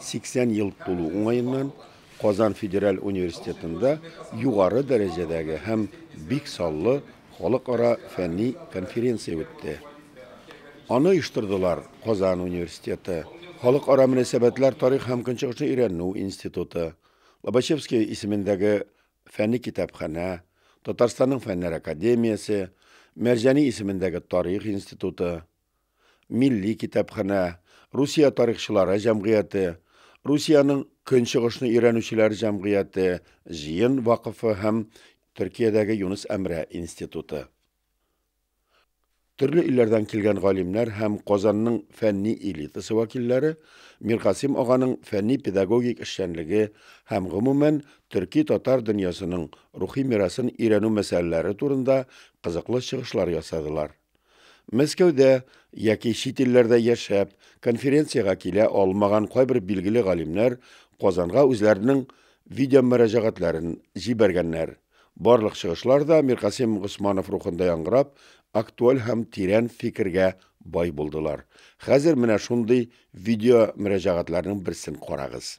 80 ел тулу уңаеннан Казан федераль университетында югары дәрәҗәдәге һәм бик саллы халыкара фәнни конференция үтте. Аны оештырдылар Казан университеты, Халыкара мөнәсәбәтләр тарих һәм көнчыгышны өйрәнү институты, Лобачевский исемендәге фәнни китапханә, Татарстанның фәннәр академиясе, Мәрҗани исемендәге тарих институты, Милли китапханә, Русия тарихчылары җәмгыяте, Русиянең Көнчыгышны өйрәнүчеләр җәмгыяте, Җыен вакыфы һәм Төркиядәге Юныс Әмрә институты. Төрле илләрдән килгән галимнәр һәм Казанның фәнни элитасы вәкилләре Миркасыйм аганың фәнни-педагогик эшчәнлеге һәм, гомумән, төрки-татар дөньясының рухи мирасын өйрәнү мәсьәләләре турында кызыклы чыгышлар ясадылар. Мәскәүдә яки чит илләрдә яшәп, конференциягә килә алмаган кайбер билгеле галимнәр Казанга үзләренең видеомөрәҗәгатьләрен җибәргәннәр. Барлык чыгышлар да Миркасыйм Госманов рухында яңгырап, актуаль һәм тирән фикергә бай булдылар. Хәзер менә шундый видеомөрәҗәгатьләрнең берсен карагыз.